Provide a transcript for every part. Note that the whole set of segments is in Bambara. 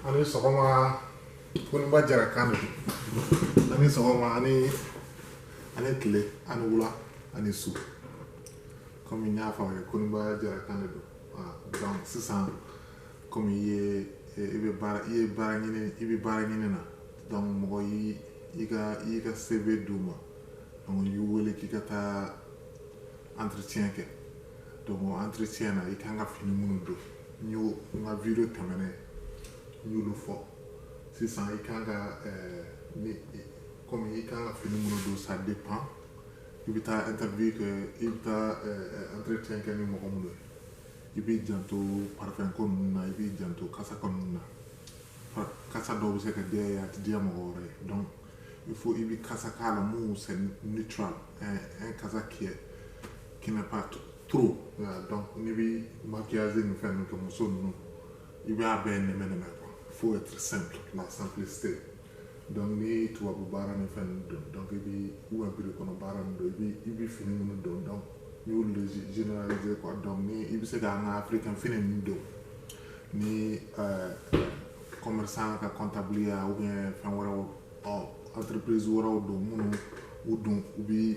ani sɔgɔma koniba jara kan don ani sɔgɔma ani ani tile ani wula ani su kɔmi n y'a fɔ aw ye koniba jara kan de don donc sisan kɔmi i ye i bɛ baara i ye baara ɲini i bɛ baara ɲini na donc mɔgɔ y'i i ka i y'i ka CV d'u ma donc u y'i wele k'i ka taa entretien kɛ donc entretien na i kan ka fini minnu don n y'o n ka video tɛmɛnen n y'olu fɔ sisan i kan ka eh, ni komi i kan ka fini minnu don ça dépend i bɛ taa interview kɛ i bɛ taa eh, entretien kɛ ni mɔgɔ minnu ye i b'i janto parfum ko ninnu na i b'i janto kasa ko ninnu na Pa- kasa dɔw bɛ se ka diya i ye a tɛ diya mɔgɔ wɛrɛ ye donc il faut i bɛ kasa k'a la mun c'est neutral un un kasa qui est qui n'est pas trop donc n'i bɛ maquillage ni fɛn ninnu kɛ muso ninnu i b'a bɛɛ nɛmɛ nɛmɛ quoi faut être simple la simplicité donc ni tubabu baara ni fɛn ninnu don donc i bɛ ou bien bureau kɔnɔ baara ninnu don i bɛ i bɛ fini minnu don donc n y'olu de généraliser quoi donc ni i bɛ se ka an ka africain fini ninnu don ni euh, commerçant ka comptable ya ou bien fɛn wɛrɛw ɔ entreprise wɛrɛw don minnu u don u bɛ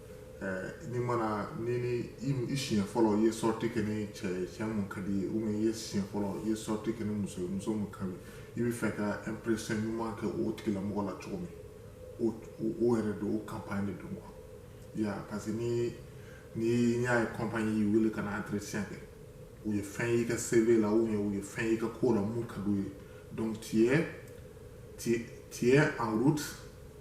mana ni i siɲɛ fɔlɔ i ye sortie kɛ ni cɛ cɛ mun ka d'i ye ou i ye siɲɛ fɔlɔ i ye sortie kɛ ni muso muso mun ka di i b'a fɛ ka impression ɲuman kɛ o tigilamɔgɔ la cogo min o yɛrɛ don o campagne de don ya parce que ni n'i y'a ye compagnie y'i wele ka na entretien kɛ u ye fɛn y'i ka CV la ou bien u ye fɛn y'i ka ko la mun ka d'u ye donc tu es tu es en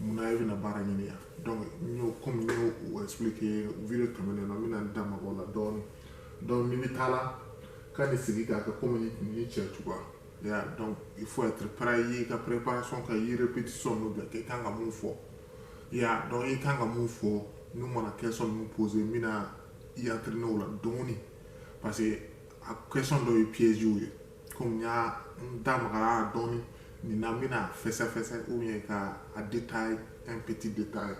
mun na e bɛna baara ɲini yan donc n y'o komi n y'o expliquer video tɛmɛnen na n bɛna n da maga o la dɔɔni donc n'i bɛ taa la ka ni sigi k'a kɛ komi ni cɛ cogoya ya donc il faut être prêt i ka préparation kɛ i répétition ninnu bɛɛ kɛ i kan ka mun fɔ ya donc i kan ka mun fɔ n'u mana question ninnu poser n bɛna i entraîner o la dɔɔni parce que a question dɔw ye piège ye komi n y'a n da magara dɔɔni nin na n bɛna fɛsɛfɛsɛ ou bien ka a détailler un petit détail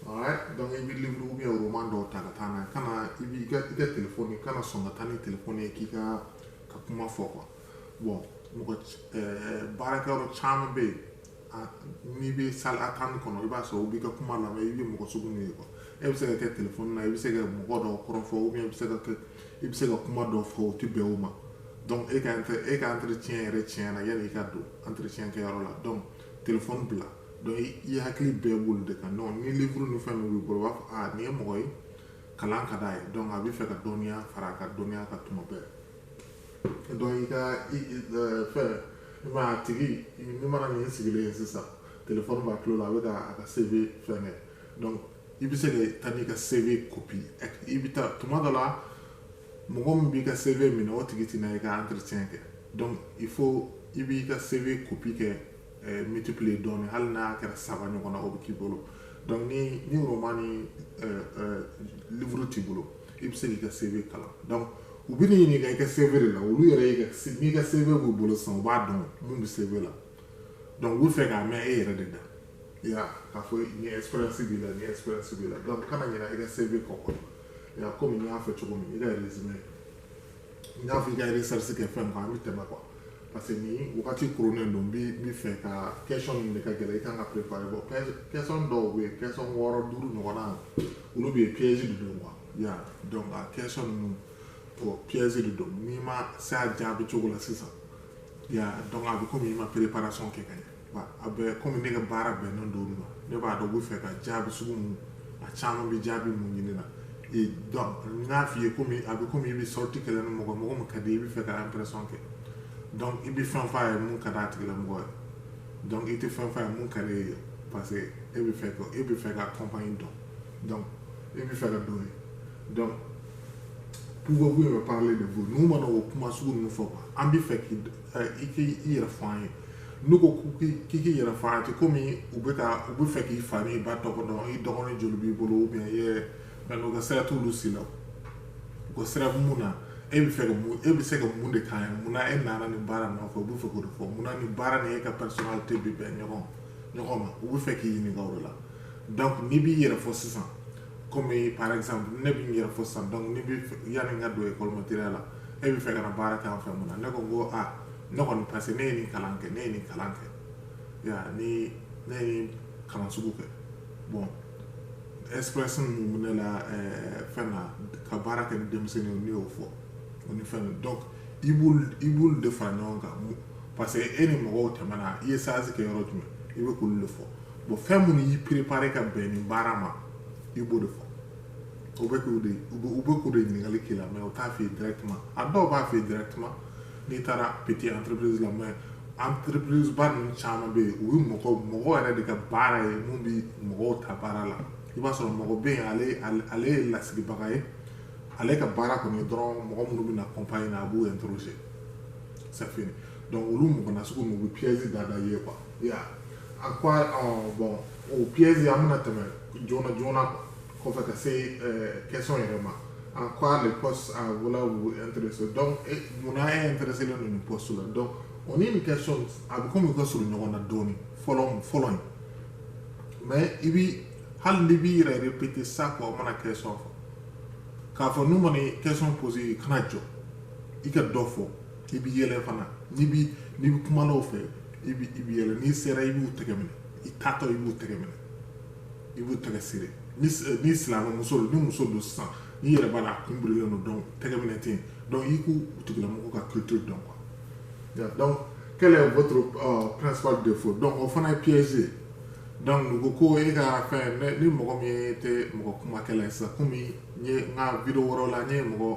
alright donc i bɛ livre ou bien roman dɔw ta ka taa n'a ye kana i b'i ka i ka telefɔni kana sɔn ka taa ni telefɔni ye k'i ka ka kuma fɔ quoi bon mɔgɔ baarakɛyɔrɔ caman bɛ yen n'i bɛ salle attente kɔnɔ i b'a sɔrɔ u b'i ka kuma lamɛn i bɛ mɔgɔ sugu min ye quoi e bɛ se ka kɛ telefɔni na i bɛ se ka mɔgɔ dɔw kɔrɔfɔ i bɛ se ka kɛ i bɛ se ka kuma dɔw fɔ o tɛ bɛn o ma donc e ka e ka entretien yɛrɛ tiɲɛna yanni i ka don entretien kɛyɔrɔ la donc telefɔni bila donc i hakili bɛɛ b'olu de kan donc ni livre ni fɛn min b'i bolo u b'a fɔ nin ye mɔgɔ ye kalan ka d'a ye donc a bɛ fɛ ka dɔnniya fara a ka dɔnniya kan tuma bɛɛ donc i ka fɛn mɛ a tigi ni mana nin sigilen ye sisan telefɔni b'a tulo la a bɛ ka a ka CV fɛn kɛ donc i bɛ se ka taa n'i ka CV copie i bɛ taa tuma dɔ la mɔgɔ min b'i ka CV minɛ o tigi tɛna i ka entretien kɛ donc il faut i b'i ka CV copie kɛ eh, multiplier dɔɔni hali n'a kɛra saba ɲɔgɔn na o bɛ k'i bolo donc ni ni roman ni eh, eh, livre t'i bolo i bɛ se k'i ka CV kalan donc u bɛ n'i ɲininka i ka CV de la olu yɛrɛ y'i ka n'i ka CV b'u bolo sisan u b'a dɔn mun bɛ CV la donc u bɛ fɛ k'a mɛn e yɛrɛ de da ya k'a fɔ nin expérience b'i la nin expérience b'i la donc kana ɲinɛ i ka CV kɔ quoi ya komi n y'a fɔ cogo min i ka résumé n y'a fɔ i ka recherche kɛ fɛn kan an bɛ tɛmɛ quoi parce que nin wagati koronnen don n bɛ fɛ ka question ninnu de ka gɛlɛn i kan ka préparer bon question dɔw bɛ yen question wɔɔrɔ duuru ɲɔgɔnna olu bɛ yen piège de don quoi ya donc a question ninnu bon piège de don n'i ma se a jaabi cogo la sisan ya donc a bɛ komi i ma préparation kɛ ka ɲɛ a bɛ kɔmi ne ka baara bɛnnen don u ma ne b'a dɔn u bɛ fɛ ka jaabi sugu mun a caman bɛ jaabi mun ɲini na donc n'a f'i ye komi a bɛ komi i bɛ sortie kɛ la ni mɔgɔ mɔgɔ min ka di i bɛ fɛ ka impression kɛ donc i bɛ fɛn f'a ye mun ka d'a tigilamɔgɔ ye donc i tɛ fɛn f'a ye mun ka di e ye parce que e bɛ fɛ e bɛ fɛ ka convaincre donc e bɛ fɛ ka don yen donc pouvez-vous me parler de vous n'u mana o kuma sugu nin fɔ an bɛ fɛ k'i dɔn i k'i i yɛrɛ fɔ an ye n'u ko k'i k'i yɛrɛ fɔ an ye komi u bɛ ka u bɛ fɛ k'i fa n'i ba tɔgɔ dɔn i dɔgɔnin joli b'i bolo ou bien i yɛrɛ mais u ka sira t'olu si la u ka sira mun na e bɛ fɛ ka mun e bɛ se ka mun de k'an ye mun na e nana nin baara nɔfɛ u bɛ fɛ k'o de fɔ mun na nin baara ni e ka personnalité bɛ bɛn ɲɔgɔn ɲɔgɔn ma u bɛ fɛ k'i ɲininka o de la donc n'i b'i yɛrɛ fɔ sisan kɔmi par exemple ne bɛ n yɛrɛ fɔ sisan donc ne bɛ yanni n ka don école maternelle la e bɛ fɛ ka na baara kɛ an fɛ mun na ne ko n ko ah ne kɔni parce que ne ye nin kalan kɛ ne ye nin kalan kɛ ya ni ne ye nin kalan sugu kɛ bon expérience min bɛ ne la eh, fɛn na ka baara kɛ ni denmisɛnninw ne y'o fɔ o ni fɛn donc i b'olu i b'olu de fara ɲɔgɔn kan parce que e ni mɔgɔw tɛmɛna i ye stage kɛ yɔrɔ jumɛn i bɛ k'olu de fɔ bon fɛn minnu y'i préparer ka bɛn nin baara ma i b'o de fɔ u bɛ k'o de u bɛ k'o de ɲininkali k'i la mais u t'a f'i ye directement a dɔw b'a f'i ye directement n'i taara petit entreprise la mais entreprise ba ninnu caman bɛ yen o ye mɔgɔ mɔgɔ yɛrɛ de ka baara ye min bɛ mɔgɔw ta baara la i b'a sɔrɔ mɔgɔ bɛ yen ale ale ye lasigibaga ye ale ka baara kɔni ye dɔrɔn mɔgɔ minnu bɛ na compagnie na a b'u interroger c'est fini donc olu mɔgɔ nasugu ninnu u bɛ piège da da i ye quoi Ya a ko bɔn o psi an bɛna tɛmɛ joona joona kɔfɛ ka se kɛsɔn yɛrɛ ma a k' woloso dɔn munna ye teri selen ninnu pɔsi la dɔn o ni bɛ kɛ sɔn a bɛ komi ka s ɲɔgɔn na dɔɔnin fɔlɔ fɔlɔ in mɛ i bɛ hali ni b'i yɛrɛ i bɛ pte sa kɔ o mana kɛ sɔn k'a fɔ n'u mana kɛsɔn psi i kana jɔ i ka dɔ fɔ i bɛ yɛlɛ fana n'i bɛ n'i bɛ kuma dɔw fɛ i bɛ i bɛ yɛlɛ n'i sera i b'u tɛgɛ minɛ i taatɔ i b'u tɛgɛ minɛ i b'u tɛgɛ siri ni ni silamɛ muso don ni muso don sisan n'i yɛrɛ b'a la a kun birilen don donc tɛgɛ minɛ tɛ yen donc i k'u tigilamɔgɔw ka culture dɔn quoi donc quel est votre euh, principal défaut donc o fana ye piège ye donc u ko ko e ka fɛn ni mɔgɔ min tɛ mɔgɔ kumakɛla ye sisan komi n ye n ka video wɛrɛw la n ye mɔgɔ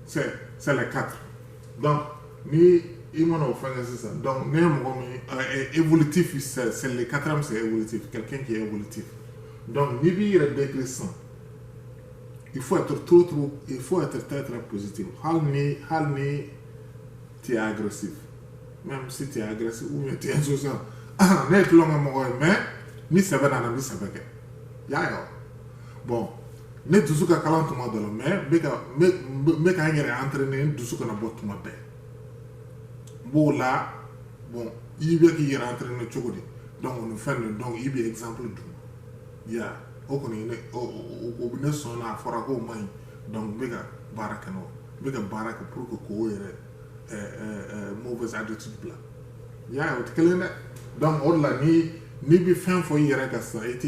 c'est c'est les quatre donc ni i mana o fɛnkɛ sisan donc ne ye mɔgɔ min ye évolutif c'est c'est le quatrième c'est évolutif quelqu'un qui est évolutif donc n'i b'i yɛrɛ décrire sisan il faut être trop trop il faut être très très positif hali ni hali ni tu es agressif même si tu es agressif ou bien tu es insouciant ne ye tulonkɛ mɔgɔ ye mais ni sɛbɛ nana n bɛ sɛbɛ kɛ y'a ye wa bon ne dusu ka kalan tuma dɔ la mais n bɛ ka n yɛrɛ entraîner n dusu kana bɔ tuma bɛɛ n b'o la bon i bɛ k'i yɛrɛ entraîner cogo di donc nin fɛn nin donc i bɛ exemple di ya o kɔni ne o bɛ ne sɔn na a fɔra k'o man ɲi donc n bɛ ka baara kɛ n'o n bɛ ka baara kɛ pour que k'o yɛrɛ mauvaise attitude bila y'a ye o tɛ kelen ye donc o de la ni n'i bɛ fɛn fɔ i yɛrɛ kan sisan i tɛ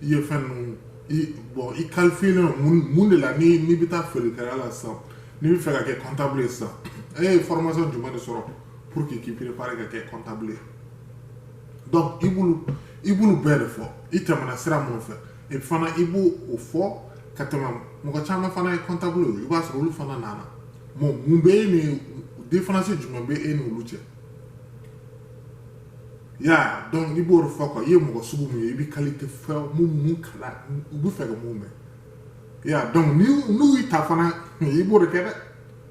i ye fɛn ninnu i bon i kalifiyelen don mun mun de la ni n'i bɛ taa feerekɛla la sisan n'i bɛ fɛ ka kɛ comptable ye sisan e ye formation jumɛn de sɔrɔ pour que k'i préparer ka kɛ comptable ye donc i b'olu i b'olu bɛɛ de fɔ i tɛmɛna sira minnu fɛ e fana i b'o o fɔ ka tɛmɛ mɔgɔ caman fana ye comptable ye i b'a sɔrɔ olu fana nana bon mun bɛ e ni différence jumɛn bɛ e n'olu cɛ ya donc i b'o de fɔ ko i ye mɔgɔ sugu min ye i bɛ qualité fɛn minnu kalan u bɛ fɛ ka mun mɛn ya donc n'u y'i ta fana i b'o de kɛ dɛ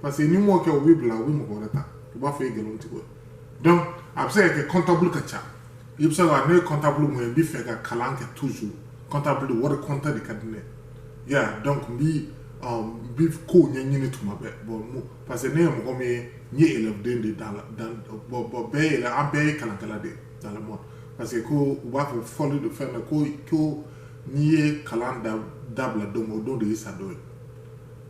parce que n'i m'o kɛ u b'i bila u bɛ mɔgɔ wɛrɛ ta u b'a fɔ i ye nkalon tigɛ donc a bɛ se ka kɛ comptable ka ca i bɛ se ka ne ye comptable mun ye n bɛ fɛ ka kalan kɛ toujours comptable wari compter de ka di ne ye donc n bi n bi kow ɲɛɲini tuma bɛɛ bon parce que ne ye mɔgɔ min ye n ye élève den de dans dans bon bon bɛɛ yɛrɛ an bɛɛ ye kalankɛla de dans le monde parce que ko u b'a fɔ fɔli de fɛn na ko ko n'i ye kalan da dabila don min o don de y'i sa don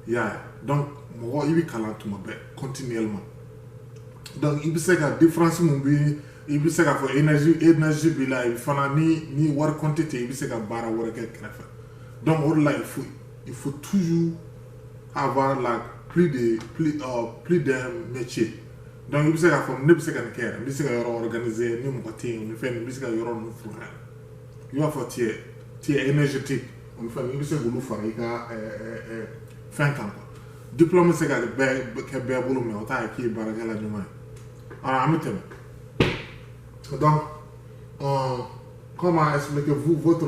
ye y'a ye donc mɔgɔ i bɛ kalan tuma bɛɛ continuellement donc i bɛ se ka différence mun bɛ i bɛ se k'a fɔ énergie énergie b'i la fana ni ni wari compte tɛ i bɛ se ka baara wɛrɛ kɛ kɛrɛfɛ donc o de la il faut il faut toujours avoir la plus de plus euh, plus d'un métier donc i bɛ se k'a fɔ ne bɛ se ka nin kɛ yɛrɛ n bɛ se ka yɔrɔ organiser ni mɔgɔ tɛ yen nin fɛn nin n bɛ se ka yɔrɔ ninnu fura yɛrɛ i b'a fɔ tu es tu es énergétique olu fɛn i bɛ se k'olu fara i ka fɛn kan quoi diplôme bɛ se ka kɛ bɛɛ bolo mais o t'a ye k'i ye baarakɛla ɲuman ye alors an bɛ tɛmɛ donc euh, comment expliquez-vous votre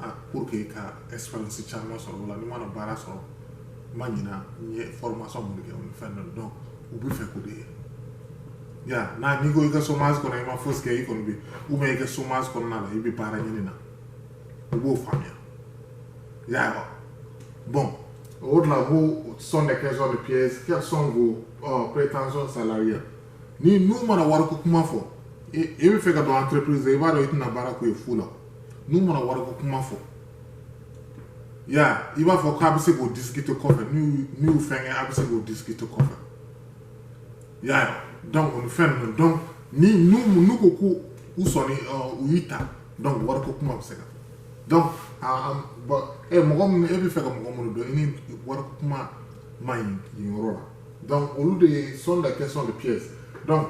a pour que i ka expérience caman sɔrɔ o la n'i mana baara sɔrɔ n ma ɲina n ye formation mun kɛ o ni fɛn dɔ donc u bɛ fɛ k'o de ye ya n'a n'i ko i ka chômage kɔnɔ i ma fosi kɛ i kɔni bɛ ou bien i ka chômage kɔnɔna la i bɛ baara ɲini na u b'o faamuya ya bon o de la bon sont des questions de piège quelles sont vos euh, prétentions salariales ni n'u mana wariko kuma fɔ e bɛ fɛ ka don entreprise i b'a dɔn i tɛna baara k'u ye fu la n'u mana wariko kuma fɔ ya i b'a fɔ k'a bɛ se k'o discuter kɔfɛ n'u n'u fɛnkɛ a bɛ se k'o discuter kɔfɛ ya donc o ni fɛn ninnu donc ni n'u n'u ko ko u sɔnni u y'i ta donc wariko kuma bɛ se ka donc a bon e mɔgɔ min e bɛ fɛ ka mɔgɔ minnu dɔn i ni wariko kuma ma ɲi nin yɔrɔ la donc olu de ye sont des questions de piège donc